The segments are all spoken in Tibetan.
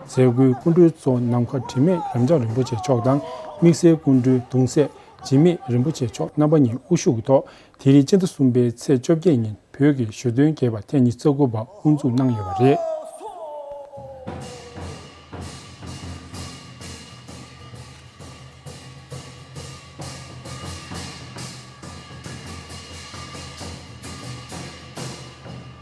རྫས་སྐུའི་སྐུ་མགྲོན་གཙོ་ནམ་མཁའ་དྲི་མེད་རབ་འབྱམས་རིན་པོ་ཆེ་མཆོག་དང་དམིགས་བསལ་སྐུ་མགྲོན་གདུང་སྲས་འཇིགས་མེད་རིན་པོ་ཆེ་མཆོག་རྣམ་པ་གཉིས་དབུ་བཞུགས་ཐོག་དེ་རིང་སྤྱི་ཟླ་གསུམ་པའི་ཚེས་བཅོ་བརྒྱད་ཉིན་བོད་ཀྱི་ཞོ་སྟོན་རྒྱས་པ་ཐེངས་ཉི་ཚེ་དགུ་པ་དབུ་འཛུགས་གནང་ཡོད་པ་རེད།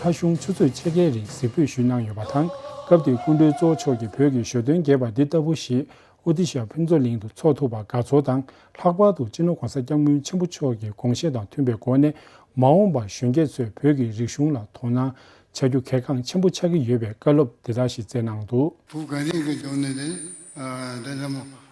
ལྷ་གཞུང་ཆུ་ཚོད་ཕྱེད་ཀའི་རིང་གཟིགས་འབུད་ཞུས་གནང་ཡོད་པ་དང་སྐབས་དེའི་སྐུ་མགྲོན་གཙོ་བོ་མཆོག་གིས་བོད་ཀྱི་ཞོ་སྟོན་རྒྱས་པ་འདི་ལྟ་བུ་ཞིག་ཨོ་ཏི་ཤ་ཕུན་ཚོགས་གླིང་དུ་འཚོགས་ཐུབ་པར་དགའ་ཚོར་དང་ལྷག་པར་དུ་སྤྱི་ནོར་གོང་ས་སྐྱབས་མགོན་ཆེན་པོ་མཆོག་གི་དགོངས་བཞེད་དང་མཐུན་པའི་སྒོ་ནས་མ་འོངས་པར་གཞོན་སྐྱེས་ཚོས་བོད་ཀྱི་རིག་གཞུང་ལ་དོ་སྣང་བྱ་རྒྱུ་གལ་འགངས་ཆེན་པོ་ཆགས་ཀྱི་ཡོད་པའི་བཀའ་སློབ་འདི་དག་ཞིག་སྩལ་གནང་འདུག། བུ་ག་རིག་གི་ལྗོངས་ནས་ལེན། དེ་ལྟ་མོ་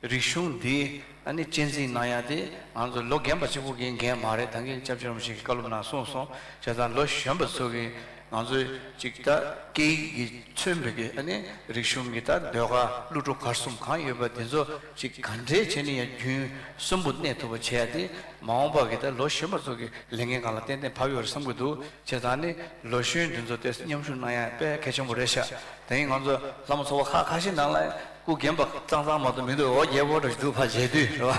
རིག་གཞུང་འདི་ཨ་ནི་གཅེས་འཛིན་གནང་ཡ་དེ་ང་ཚོ་ལོ་རྒན་པ་གཅིག་པོ་གིས་འགན་མ་རེད་ད་གིན་སྐྱབས་བཅོལ་མ་ཞིག་གིས་བཀའ་སློབ་གནང་གསུངས་སོང་བྱས་ཙང་ལོ་གཞོན་པ་ཚོ་གིས་ང་ཚོ་ཅིག་ད་སྐད་ཡིག་གི་མཚོན་བོད་ཀྱི་ཨ་ནི་རིག་གཞུང་གི་ད་ཟློས་གར་གླུ་བྲོ་གར་གསུམ་གང་ཡོད་པ་དེ་ཚོ་ཅིག་ག་འདྲའི་བྱས་ནི་ཡ་རྒྱུན་གསུམ་པོ་གནས་ཐུབ་པ་བྱས་ཡ་དེ་མ་འོངས་པ་གི་ད་ལོ་གཞོན་པ་ཚོ་གི་ལས་འགན་གང་ལ་ཏན་ཏན་བབ་ཡོད་རེད་བསམ་གི་འདུག་བྱས་ཙང་ཨ་ནི་ལོ་གཞོན་དེ་ཚོ་དེ་མཉམ་ཞུགས་གནང་ཡ་དཔེ་གལ་ཆེན་པོ་རེད་ཤག་ད་གིན་ང་ཚོ་ལྷ་མོ་ཚོ་བ་ཁ་ཁ་ཤས་ནང་ལ་སྐུ་རྒན་པ་གཙང་གཙང་མ་དོ་མི་དོ་ཨོ་རྒྱལ་བོ་དྲ་ཞུ་བ་མཇལ་དུས་རེད་བ།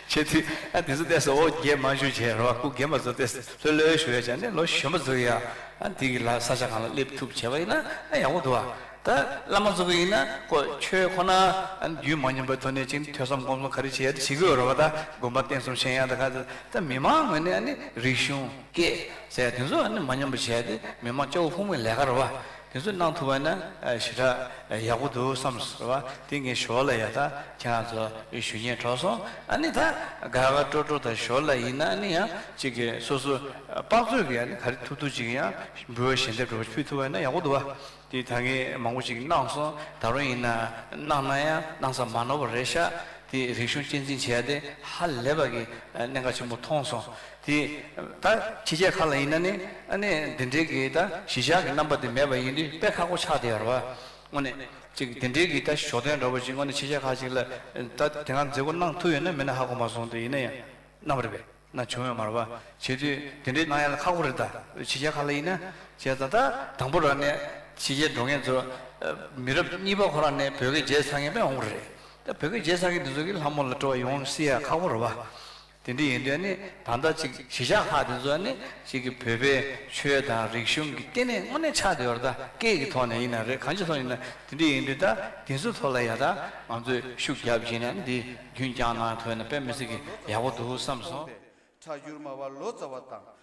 ཆེ་དུས་ཨ་འདི་ཚོ་བལྟས་སོ་ཨོ་རྒྱལ་མ་ཞུ་བྱས་རེད་བ་སྐུ་རྒན་པ་ཚོ་བལྟས་སོ་ལྷོད་ལྷོད་ཞུ་བས་བྱས་ནས་ལོ་གཞོན་པ་ཚོ་གིས་ཨ་འདི་གི་ལ་ས་ཆ་གང་ལ་སླེབས་ཐུབ་བྱས་བ་ཡིན་ན་ཨ་ཡག་པོ་འདུག་བ། ད་བླ་མ་ཚོ་གིས་ཡིན་ན་ཀོ་ཆོས་ཁོ་ན་ཨ་རྒྱུད་མ་སྙོམས་པའི་ཐོག་ནས་ཅིག་ཐོས་བསམ་སྒོམ་གསུམ་ག་རེ་བྱེད་ཡ་ད་བྱེད་དགོས་རེད་བ་ད་དགོན་པ་བསྟན་གསུམ་ཤན་ཡ་ད་ག་ཚོད་ད་མི་མང་ངོས་ནས་ཨ་ནི་རིག་གཞུང་སྐད་ཟེར་བ་དེ་ཚོ་ཨ་ནི་མ་སྙོམས་པ་བྱས་ཏེ་མི་མང་སྐྱོ་བོ་ཕུང་བའི་ལས་ཀ་རེད་བ། དེ་ཚོ་གནང་ཐུབ་པ་ན་ཞེ་དྲག་ཡག་པོ་འདུག་བསམས་ཟེར་བ་དེ་ངས་ཞོར་ལ་ཡག་ད་ཁྱེད་རང་ཚོ་ཞུ་ཉེས་གྲོགས་སོང་ཨ་ནི་ད་དགའ་དགའ་སྤྲོ་སྤྲོ་ད་ཞོར་ལ་ཡིན་ན་ཨ་ནི་ཡང་གཅིག་གི་སོ་སོ་དཔག་ཚོད་ཀྱི་ཨ་ནི་ག་རེ་ཐུབ་ཐུབ་ཅིག་ཡང་འབུལ་བ་ཞལ་འདེབས་འགྲོ་བ་ཕུལ་ཐུབ་པ་ན་ཡག་པོ་འདུག་དེ་ད་ངས་མང་པོ་ཅིག་གནང་སོང་ད་རུང་ཡིན་ན་གནང་ན་ཡང་གནང་ས་མ་ནོར་བ་རེད་ཤག་དེ་རིག་གཞུང་གཅེས་འཛིན་བྱས་ཏེ་ཧ་ལས་པ་གི་གནད་འགག་ཆེན་པོ་མཐོང་སོང་དེ་ད་ཁྱི་ཁྱད་ག་ལ་ཡིན་ན་ནི་ཨ་ནི་འདི་འདྲའི་གི་ད་གཞི་བཞག་གི་རྣམ་པ་དེ་མེད་པ་ཡིན་དུས་དཔེ་ཁག་པོ་ཆགས་དེ་ཡར་བ་ངོ་ནི་ཅིག་དེ་འདྲའི་གི་ད་ཞོ་སྟོན་འདྲ་བོ་ཅིག་ངོ་ནི་ཁྱི་ཁྱད་ཁ་ཅིག་ལ་ད་དེ་གང་མཛེས་པོ་གནང་ཐུབ་ཡོད་ན་མིན་ན་ཧ་གོ་མ་སོང་དུས་ཡིན་ན་ཡང་ནམ་རེ་བས་ན་བྱུང་ཡོད་མར་བ་བྱེད་དུས་དེ་འདྲའི་གནང་ཡ་ལ་ཁག་པོ་རེད་ད་ཁྱི་ཁྱད་ག་ལ་ཡིན་ན་བྱས་ད་ད་དང་པོ་ར་ནི་ཁྱི་ཁྱད་འགྲོ་མཁན་ཚོ་མི་རབས་གཉིས་པ་ཁོ་རང་ནི་བོད་སྐད་བརྗེད་ཚར་མཁན་པས་འོང་པོ་རེད་ད་བོད་སྐད་བརྗེད་ཚར་མཁན་དེ་ཚོ་གི་ལྷ་མོ་ལ་སྤྲོ་བ་ཡོང་སྲིད་ཡ་ཁག་པོ་ར་བ། དེ་འདི་ཡིན་དོན་ནི་ད་ལྟ་གཅིག་གཞི་བཞག་ཧ་དེ་ཚོ་ནི་གཅིག་གི་བོད་པའི་ཆོས་དང་རིག་གཞུང་གི་ལྟེ་གནས་དངོས་གནས་ཆགས་བསྡད་བར་ད་སྐད་ཀྱི་ཐོག་ནས་ཡིན་ན་རེད་གང་ཅི་ཐོག་ཡིན་ན་དེ་འདི་ཡིན་དུས་ད་དེ་ཚོའི་ཐོག་ལ་ཡ་ད་ང་ཚོས་ཤུགས་རྒྱབ་བྱས་ན་འདི་རྒྱུན་བསྐྱངས་གནང་ཐོས་ན་དཔེ་མི་སྲིད་གི་ཡག་པོ་འདུག་བསམ་སོང། ཁྲ་ཞུར་མ་བ་ལོ་ཙཱ་བ་དང་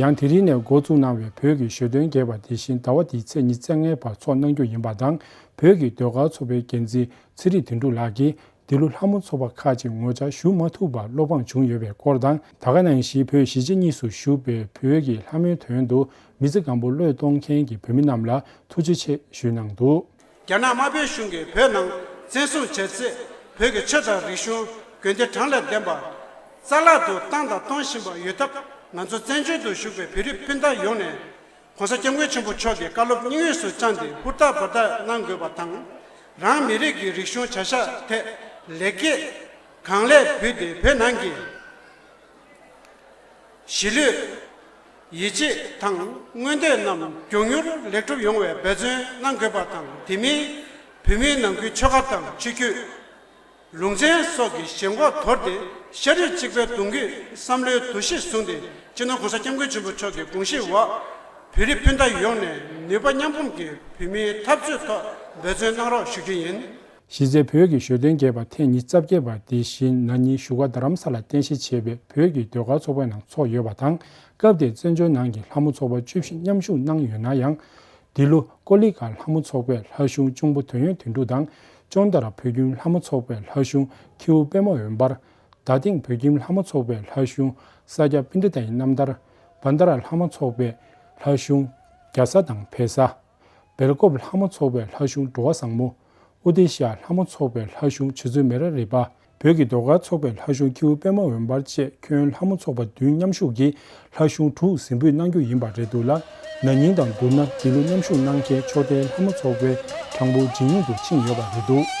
ཡང་དེ་རིང་ནས་འགོ་བཙུགས་གནང་བའི་བོད་ཀྱི་ཞོ་སྟོན་རྒྱས་པ་དེ་བཞིན་ཟླ་བ་འདིའི་ཚེས་ཉིན་ཚེས་ལྔའི་བར་འཚོགས་གནང་རྒྱུ་ཡིན་པ་དང་བོད་ཀྱི་ཟློས་གར་ཚོགས་པའི་འགན་འཛིན་ཚེ་རིང་དོན་འགྲུབ་ལགས་ཀྱིས་འདི་ལོ་ལྷ་མོ་ཚོགས་པ་ཁག་ཅིག་ངོ་བཅར་ཞུ་མ་ཐུབ་པར་བློ་ཕམ་བྱུང་ཡོད་པའི་སྐོར་དང། ད་ག་ནང་བཞིན་བོད་གཞིས་བྱེས་གཉིས་སུ་བཞུགས་པའི་བོད་ཀྱི་ལྷ་མོའི་དོན་དུ་མི་ཚེ་གང་པོ་བློས་གཏོང་མཁན་གྱི་བོད་མི་རྣམས་ལ་ཐུགས་རྗེ་ཆེ་ཞུས་གནང་འདུག། རྒྱ་ནག་དམར་པོའི་གཞུང་གིས་བོད་ནང་བཙན་བཟུང་བྱས་ཚེ་བོད་ཀྱི་ཆོས་དང་རིག་གཞུང་དགོན་སྡེ་བགྲང་ལས་ལྡན་པ། རྩ་བརླག་ཏུ་བཏང་དང་གཏོང་བཞིན་པ་ཡོད་སྟབས་ང་ཚོ་བཙན་བྱོལ་དུ་བཞུགས་པའི་བོད་རིགས་སྤུན་ཟླ་ཡོངས་ནས། ྋགོང་ས ྋསྐྱབས་མགོན་ཆེན་པོ་མཆོག་གི་བཀའ་སློབ་སྙིང་དབུས་སུ་བཅངས་ཏེ་ཧུར་ཐག་འབར་ཐག་གནང་དགོས་པ་དང། རང་མི་རིགས་ཀྱི་རིག་གཞུང་བྱ་གཞག་ཐད་ལེགས་སྐྱེས་གང་ལེགས་ཕུལ་ཏེ་བོད་ནང་གི། གཞིས་ལུས། ཡིད་ཆེས་དང་མངོན་འདོད་རྣམས་མགྱོགས་མྱུར་ལེགས་འགྲུབ་ཡོང་བའི་འབད་བརྩོན་གནང་དགོས་པ་དང་དེ་མིན་བོད་མིའི་ནང་ཁུལ་ཆོལ་ཁ་དང་ཆོས་བརྒྱུད། ལུང་ཚན་སོགས་ཀྱི་ཞེན་ཁོག་དོར་ཏེ་ཤ་རིགས་གཅིག་པའི་གདུང་རྒྱུད་བསམ་བློའི་འདུ་ཤེས་བཟུང་སྟེ་སྤྱི་ནོར ྋགོང་ས ྋསྐྱབས་མགོན་ཆེན་པོ་མཆོག་གི་དགོངས་གཞིའི་འོག་བོད་རིགས་སྤུན་ཟླ་ཡོངས་ནས་ནུས་པ་མཉམ་སྤུངས་ཀྱིས་བོད་མིའི་འཐབ་རྩོད་ཐོག་འབད་བརྩོན་གནང་རོགས་ཞུ་རྒྱུ་ཡིན། གཞི་རྩའི་བོད་ཀྱི་ཞོ་སྟོན་རྒྱས་པ་ཐེངས་ཉིས་བརྩ་བརྒྱད་པ་འདི་ཞི་ན་ཉིན་བཞུགས་སྒར་རྡ་རམ་ས་ལ་རྟེན་གཞི་བྱས་པའི་བོད་ཀྱི་ཟློས་གར་ཚོགས་པའི་ནང་ཚོགས་ཡོད་པ་དང་སྐབས་དེར་བཙན་བྱོལ་ནང་གི་ལྷ་མོ་ཚོགས་པ་བཅུ་བཞི་མཉམ་ཞུགས་གནང་ཡོད་ན་ཡང། འདི་ལོ་ཀོ་ལི་ག་ལྷ་མོ་ཚོགས་པའི་ལྷ་གཞུང་གཅུང་པོ་དོན་ཡོད་དོན་འགྲུབ་དང་ཅོང་ཏཱ་ར་བོད་ཁྱིམ་ལྷ་མོ་ཚོགས་པའི་ལྷ་གཞུང་ཁྱེའུ་དཔལ་མོ་འོད་འབར། རྡ་སྟེང་བོད་ཁྱིམ་ལྷ་མོ་ཚོགས་པའི་ལྷ་གཞུང་ས་སྐྱ་པི་ཏྲི་ཏཱ་ཡི་རྣམ་ཐར། བཱན་ད་ར་ལྷ་མོ་ཚོགས་པའི་ལྷ་གཞུང་རྒྱ་བཟའ་དང་བལ་བཟའ། སྦེལ་ཀོབ་ལྷ་མོ་ཚོགས་པའི་ལྷ་གཞུང་འགྲོ་བ་བཟང་མོ། ཨོ་དེ་ཤཱ་ལྷ་མོ་ཚོགས་པའི་ལྷ་གཞུང་བྱེ་ཚོད་མེ་ར་རི་པ། བོད་ཀྱི་ཟློས་གར་ཚོགས་པའི་ལྷ་གཞུང་ཁྱེའུ་པད་མ་འོད་འབར་བཅས་ཁྱོན་ལྷ་མོ་ཚོགས་པ་བདུན་མཉམ་ཞུགས་ཀྱིས་ལྷ་གཞུང་དྲུག་ཟིན་འབུད་གནང་རྒྱུ་ཡིན་པ་རེད་འདུག་ལ་ན་ནིང་དང་བསྡུར་ན་འདི་ལོ་མཉམ་ཞུགས་གནང་མཁན་ཕྱོགས་མཐའི་ལྷ་མོ་ཚོགས་པའི་གྲངས་འབོར་ཇེ་ཉུང་དུ་ཕྱིན་ཡོད་པ་རེད་འདུག།